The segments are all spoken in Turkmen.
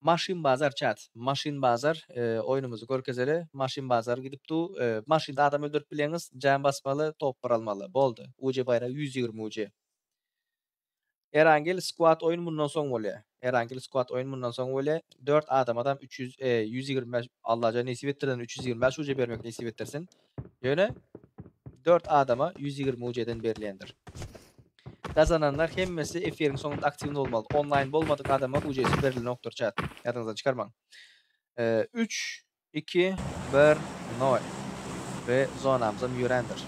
Maşyn bazar chat maşyn bazar oýnumyzy görkezeli maşyn bazar gidip du maşynda adam öldürip bileňiz jam basmaly topbar almaly boldy uje baýra ýüz ýigrimi uje. Erangel squad oýun mundan soň bolýa erangel squad oýun mundan soň bolýa dört adamadam üç ýüz ýüz ýigrimi bäş Allajan nesip etdirsin üç ýüz ýigrimi bäş uje bermek nesip etdirsin Ýöne dört adama ýüz ýigrimi UC-den berilýändir. Gazananlar hemmesi efiriň soňunda aktiwny bolmaly. Onlaýn bolmadyk adama UC-si berilenokdyr chat. Ýadyňyzdan çykarmaň. Üç, iki, bir, nol. We zonamyzam ýörändir.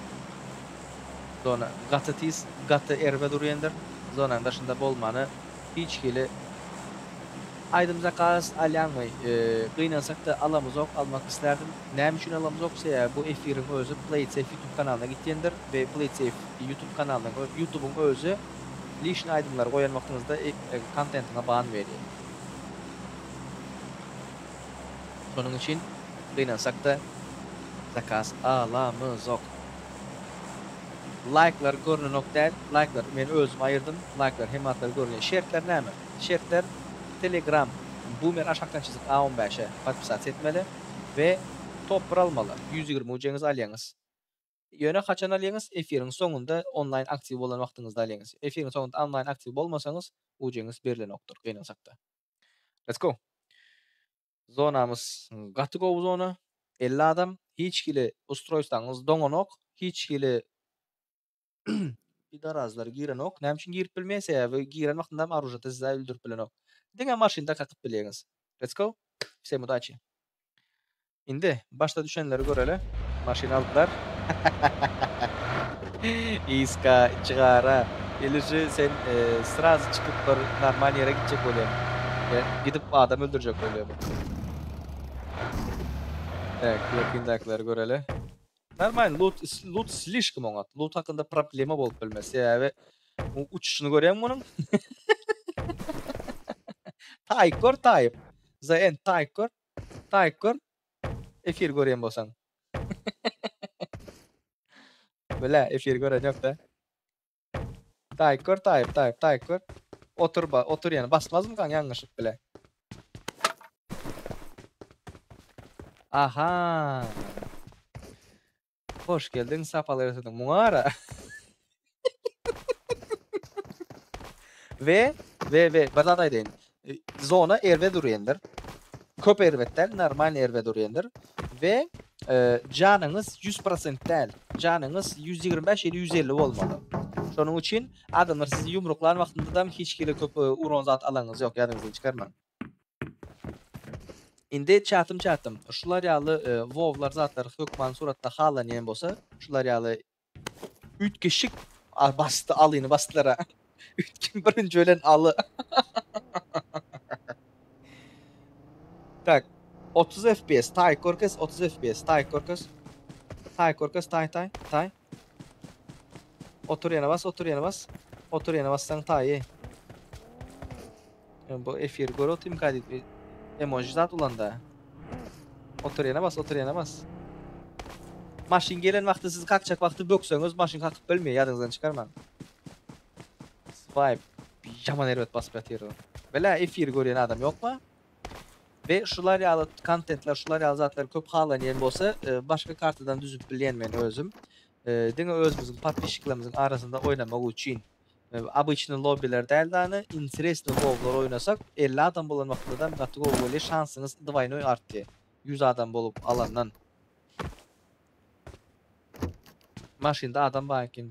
Zona gaty tiz, gaty erbet urýandyr. Zonanyň daşynda bolmany. Hiç hili Aýdym zakaz alýaňmy? Gynansakda alamyzok, almak islärdim. Näme üçin alamyzok? Sebäbi bu efiriň özi Playtsafe YouTube kanalyna gitýändir we Playtsafe YouTube kanalynyň özi, YouTubyň özi lişni aýdymlary goýan wagtyňyzda kontentiňe ban berýär. Şonuň üçin gynansakda zakaz alamyzok. Laýklar görnenok däl. Laýklary men özüm aýyrdym. Laýklar hemme zatlar görünýär. Şertler näme? Şertler Telegram Boomer aşakdan çyzyk a on bäşe podpisasiýa etmeli we top bir almaly. Ýüz ýigrimi uceniz alýaňyz. Ýöne haçan alýaňyz? Efiriň soňunda onlaýn aktiw bolan wagtyňyzda alýaňyz. Efiriň soňunda onlaýn aktiw bolmasaňyz uceniz berilenokdyr gynansakda. Let's go! Zonamyz gaty gowy zona, elli adam, hiç hili ustroýstwaňyz doňanok, hiç hili pidarazlar girenok, näme üçin girip bilmeýär, sebäbi giren wagtynda hem aružýada size öldürip bilenok, diňe maşynda kakyp bilýäňiz, let's go, vsem udaçi. Indi Başda düşenleri göreli. Maşyn aldylar. Iska, içi gara. Iliji sen srazy çykyp bir normal ýere gitjek bolýan. Ýa gidip adam öldürjek bolýan. Tak, ýakyndakylar göreli. Normal lut, lut slişkom oňat. Lut hakynda problema bolup bilmez. Sebäbi bu uçuşyny görýäňmi munuň? Taýk gör taýk. Za en taýk gör. Taýk gör. Efir görýän bolsaň. Bile efir gören yok da. Taýyk gör taýyp taýyp taýyk gör. Otur ba otur ýene basmazmy kan ýalňyşlyk bile. Aha. Hoş geldiň sapalar getirdiň muňara. We we we bir zat aýdaýyn. Zona erbet urýandyr. Köp erbet däl, normal erbet urýandyr. We janyňyz 100% däl. Janyňyz 125 ýa-da 150 bolmaly. Şonuň üçin adamlar sizi ýumruklan wagtynda da hiç kile köp uran zat alaňyz ýok, ýadyňyzdan çykarmaň. Indi çatym-çatym, şular ýaly wowlar zatlar hökman suratda halanýan bolsa, şular ýaly üýtgeşik a basdy alyny basdylar-a. Üýtgen birinji ölen aly. Tak, otuz FPS, taý, körkez, otuz FPS, taý, körkez. Taý, körkez, taý, taý, taý. Otur ýene bas otur ýene bas. Otur ýene bassaň taýy. Men bu efiri görüp otyrym kadit emoji zat ulanda. Otur ýene bas otur ýene bas. Maşyn gelen wagty siz kakjak wagty bökseňiz maşyn kakyp bilmeýär ýadyňyzdan çykarmaň. Swipe ýaman erbet basyp ýatyr. Bilä efiri görýän adam ýokmy? We şular ýaly kontentler şular ýaly zatlar köp halanýan bolsa başga kartadan düzüp bilýän men özüm. Diňe özümiziň podpişiklerimiziň arasynda oýnamak üçin. Obyçny lobbiler däl dany interesny gowlar oýnasak 50 adam bolan wagtladam gaty gowy bolýa şansyňyz dwaýnoý artýa 100 adam bolup alandan. Maşynda adam bar ekeni.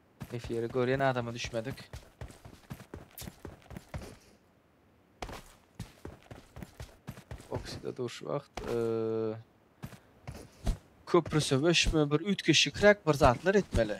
Efiri görýän adama düşmedik. Oksida durşy wagt köpri söweşme bir üýtgeşikräk bir zatlar etmeli.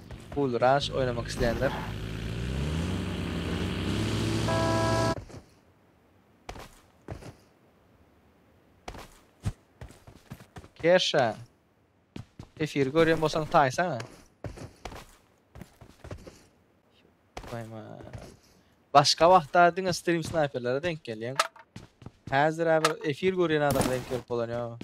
Pool Rush oýnamak isleýänler. Kersha. Efiri görýän bolsaň taýsaňa. Goýman. Başga wagtda diňe stream snayperlere denk gelýäň. Häzir bir efir görýän adama denk gelip bolan ýok.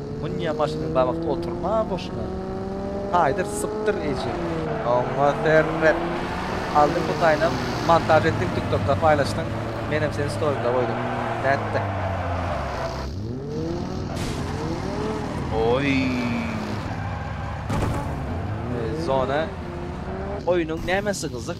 Munýa maşynyň gabakda oturma boşuna. Taýdyr sypdyr eje. Oňa serret. Aldyň bu taýynam montaž etdiň tiktokda paýlaşdyň menem seni storimde goýdum. Nätdiň. Oýy. Zona. Oýnuň nämesi gyzyk?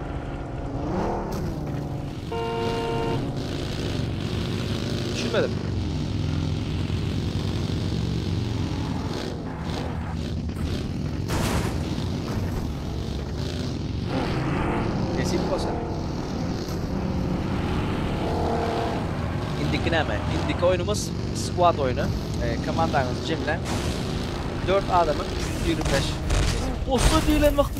Düşünmedim. Nesip bolsa. İndiki näme? İndiki oyunumuz squad oyunu. E, komandaňyzy jemläň. 4 adamyň 125. Osta diýlen wagty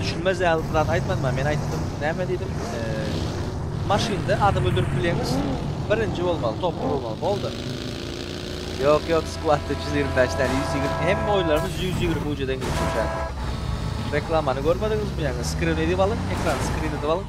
Düşünmez ýaly bir zat aýtmadym ha men aýtdym näme diýdim maşynda adam öldürip bileňiz birinji bolmaly topar bolmaly boldy. Ýok ýok skwadda 125 däl 120 hemme oýunlarymyz 120 ujeden geçip durýar. Reklamany görmediňizmi ýaňy skrin edip alyň ekran skrin edip alyň.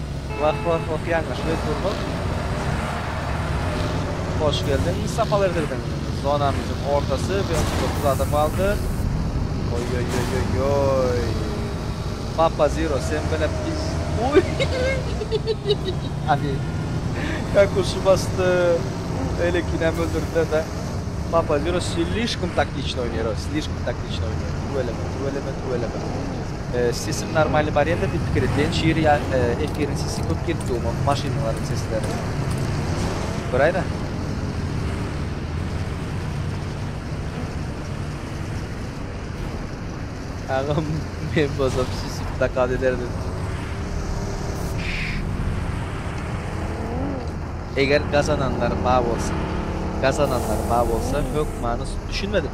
Wah wah wah ýalňyş biz durduk. Hoş geldiň Mustafa Erdirdiň. Zonamyzyň ortasy bir otuz dokuz adam galdy. Oýoýoýoýoý. Papa Zero sen bilen biz. Uý. Adi. Kakuşy basdy. Elekinem öldürdiler de. Papa Zero slişkom taktiçno oýnaýar o. Slişkom taktiçno oýnaýar. Tüweleme tüweleme tüweleme. Sesim normalny barýanda diýip pikir etýän şir ýa efiriň sesi köp gelip durmy maşynalaryň sesleri. Göräýme. Agam men bolsam süsüp zakaz ederdim. Eger gazananlar ba bolsa gazananlar ba bolsa hökmany düşünmedim.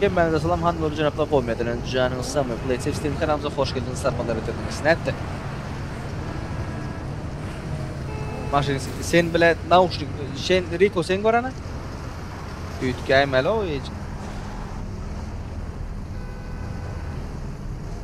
Hemmäňize salam hanym we jenaplar gowmy ýadyňyz janyňyz sagmy Playtech Steam kanalymyza hoş geldiňiz sarpalar ýetirdiňiz nätdi. Maşyn siti sen bile nauşnik sen Riko sen görana. Üýtgäýmäli o hiç.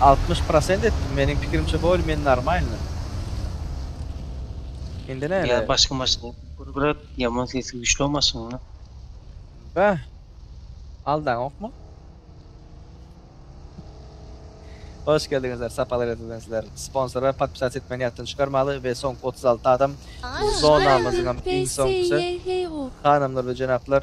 Altmyş prosent etdim meniň pikirimçe bolye men normalny. Indi näle? Ýa başga maşyn gurgrak ýaman sesi güçli o maşynyň. Bäh. Aldaňokmy? Hoş geldiňizler, sapalar ýatyzdan sizler. Sponsora podpisat etmegini ýatdan çykarmaly we soňky otuz alty adam zonamyzyňam iň soňkusy. Hanymlar we jenaplar,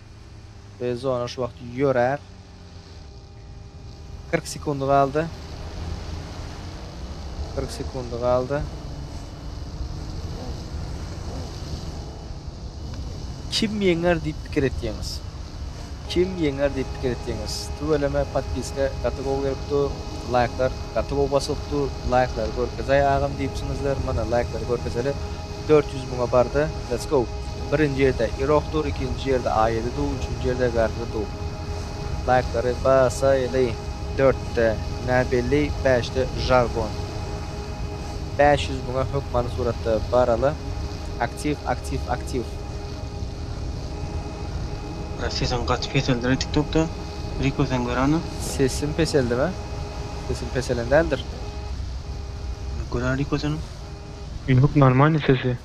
Zona şu wagt ýörär. 40 sekundy galdy. 40 sekundy galdy. Kim ýeňer diýip pikir etýäňiz? Kim ýeňer diýip pikir etýäňiz? Tüweleme podpiska gaty gowy gelip dur. Laýklar gaty gowy basylyp dur. Laýklary görkezaý agam diýipsiňizler. Mana laýklary görkezeli. 400 müňe bardy. Let's go. Birinji ýerde Irok dur ikinji ýerde Aýedi dur üçünji ýerde Garry dur. Laýklary basaýly. Dörtde Näbelli bäşde Žargon. Bäş ýüz müňe hökmany suratda baraly. Aktiw aktiw aktiw. Brat sesiň gaty peseldireý tik tokda Riko sen görana. Sesim peseldimi? Sesim peselen däldir. Ýok görä Riko seniň. Ýok normalny sesi.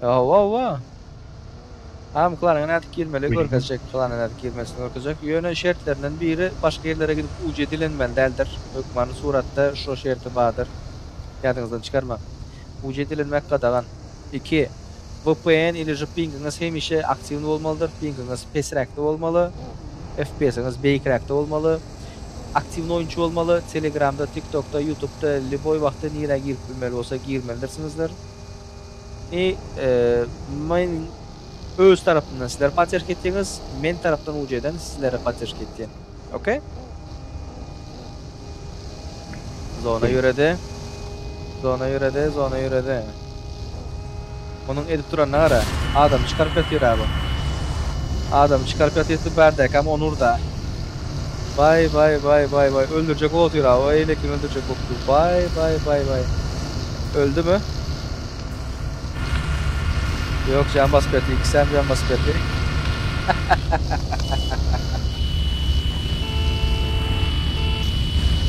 Hawa hawa. Am klanyň nädip girmeli görkezjek, klanyň nädip girmesini görkezjek. Ýöne şertlerinden biri başga ýerlere gidip UC dilenmeli däldir. Hökmany suratda şo şerti bardyr. Ýadyňyzdan çykarmaň. UC dilenmek gadagan. Iki. Vpn iliji pingiňiz hemişe aktiwny bolmalydyr. Pingiňiz pesräkde bolmaly. FPS-iňiz beýikräkde bolmaly. Aktiwny oýunçy bolmaly. Telegramda, TikTokda, Ýutubda lýuboý wagtda nirä girip bilmeli bolsa girmelidirsiňizdir. Indi men öz tarapymdan sizler podderşka etýäňiz, men tarapdan ujeden sizlere podderşka etýän. Ok? Zona ýöredi. Zona ýöredi, zona ýöredi. Munuň edip duranyna gara. Adam çykaryp ýatyr-a bu. Adam çykaryp ýatyr, bärdäkam ony ur-da. Baý baý baý baý baý öldürjek botyrab o eýlekini öldürjek bopdur baý baý baý baý öldümi ýok jan basyp berdi ikisem jan basyp berdi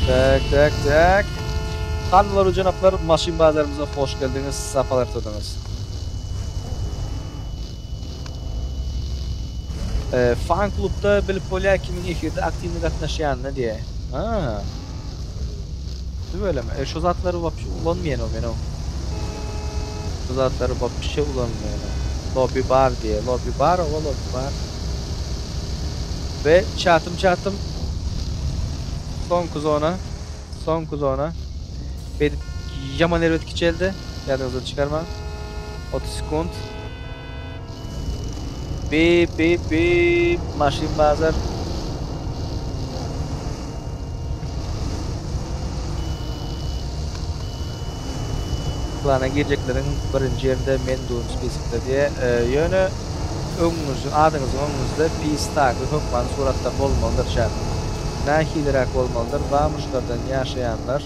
tak tak tak Hanlar we jenaplar maşyn bazarymyza hoş geldiňiz sapalar ýetirdiňiz. Fan klubda bilip bolýar kimiň efirde aktiwny gatnaşýanyny diýe. Ha. Tüweleme. E şu zatlary wapşe ulanmaýan o menow. Bu zatlary wapşe ulanmaýan. Lobby bar diýe. Lobby bar, owa lobby bar. Ve çatym çatym soňky zona. Soňky zona. Beýdip ýaman erbet kiçeldi. Ýadyňyzdan çykarmaň. 30 sekunt. Bip bip bip. Maşyn bazar. Plana girjekleriň birinji ýerinde men durun spiskde diýe. Ýöne öňňüz adyňyzyň öňňüzde pisdaki hökman suratda bolmalydyr çak. Nahiliräk bolmalydyr bamuşlardan ýaşaýanlar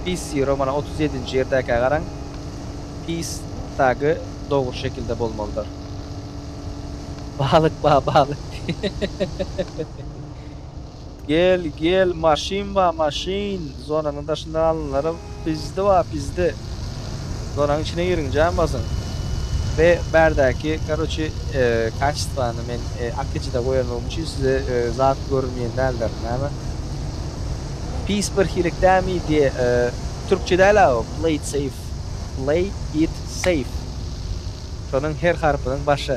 pissi romana otuz ýedinji ýerdäkä garaň pis tagi dogry şekilde bolmalydyr. Balyk ba balyk diýe. Gel gel maşyn ba maşyn zonanyň daşynda galanlara pizdi ba pizdi zonanyň içine giriň jan basyň we bärdäki karoçi kaçestvany men akejide goýanlygym üçin size zat görünýän däldir näme pis bir hilik dämi diýe türkçe däl a o play it safe play it safe şonuň her harpynyň başy.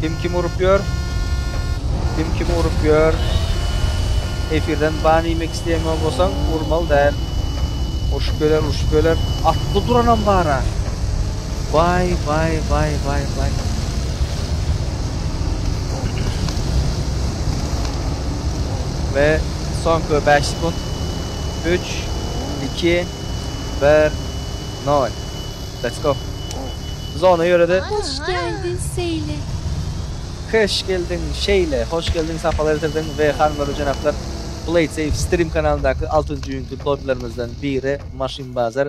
Kim kim urup ýör? Kim kim urup ýör? Efirden ban iýmek isleýän bolsaň, urmaly däl. Urşup geler, urşup geler. Atly duranam bar-a. Waý, waý, waý, waý, waý. We soňky 5 sekund. 3, 2, 1, 0. Let's go. Zona ýörede. Hoş geldin seyle. Hoş geldiň şeýle. Hoş geldiň sapar getirdiň we hanymlar we jenaplar Playsafe strim kanalyndaky altynjy günki dobilermizden biri maşyn bazar.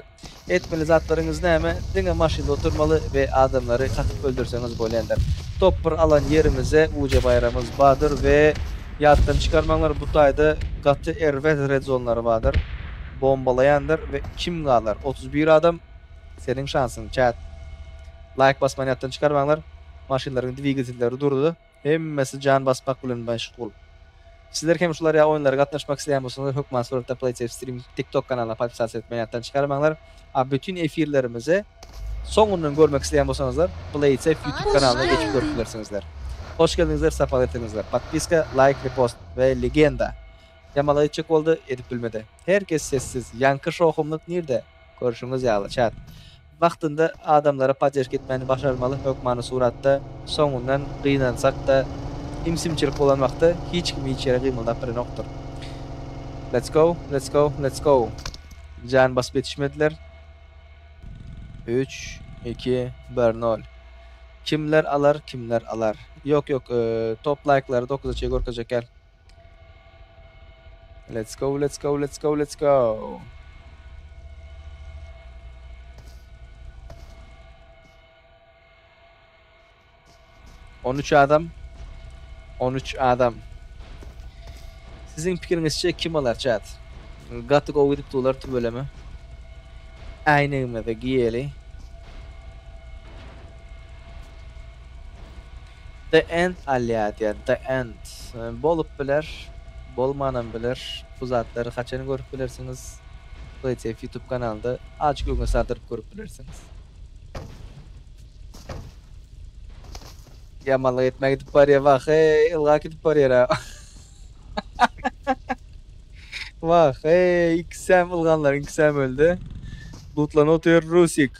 Etmeli zatlaryňyz näme? Diňe maşynda oturmaly we adamlary kakyp öldürseňiz bolýandyr. Top bir alan ýerimize uca baýramyz badyr we ýatdan çykarmaňlar bu taýda gaty erbet redzonlary badyr. bombalaýandyr we kim galar otuz bir adam seniň şansyň çät laýk basmany ýatdan çykarmaňlar maşynlaryň dwigatelleri durdy hemmesi jan basmak bilen meşgul sizler hem şular ýaly oýunlara gatnaşmak isleýän bolsaňyzlar hökman suratda playsafe stream tik tok kanalyna podpisatsa etmeni ýatdan çykarmaňlar a bütin efirlerimizi soňundan görmek isleýän bolsaňyzlar playsafe ýutube kanalyna geçip görüp bilersiňizler hoş geldiňizler sapar ýetiňizler podpiska laýk repost we legenda. Jamal aýtjak boldy, edip bilmedi. Her kes sessiz. Ýaňky şowhunlyk nirde? Görşüňiz ýaly, çäk. Wagtynda adamlara podderki etmäni başarmaly, hökmany suratda, soňundan gynansak-da, imsimçilik bolan wagty hiç kim hiç ýere gymyldap bilenokdyr. Let's go, let's go, let's go! Jan basyp ýetişmediler. Üç, iki, bir, nol. Kimler alar, kimler alar? Ýok, ýok, top laýklary dokuza çenli görkezjek däl. Let's go, let's go, let's go, let's go. On üç adam. On üç adam. Sizin pikiriňizçe kim alar çat? Gaty gowy gidip dolar tübeleme. Äýnegimizi giýeli. The end alýar diýen the end bolup biler bolmanam biler bu zatlary haçan görüp bilersiňiz playtf youtube kanalynda azjyk öňe saldyryp görüp bilersiňiz. Ýamanlyk etmän gidip barýar wah eý ylgap gidip barýar a. Wah eý ikisem ylganlaryň ikisem öldi. Lutlanot ýör rusik.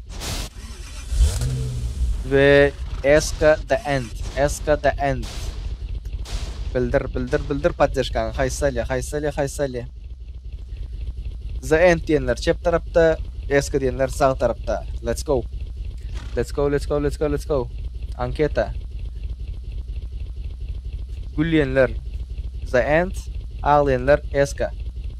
We eska the end, eska the end. Bildir, bildir, bildir poddeşkaňy. Haýsali, haýsali, haýsali. The end diýenler çep tarapda, eska diýenler sag tarapda. Let's go. Let's go, let's go, let's go, let's go. Anketa. Gülýänler the end, aglaýanlar eska.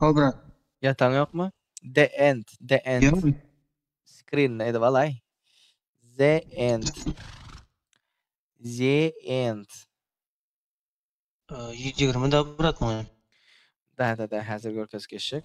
How brat. Ýataň ýokmy? The end, the end. Ýok. Screen-ni edip alaý. The end. The end. Ýüz ýigrimi da brat muny. Da-da-da, häzir görkezip geçjek.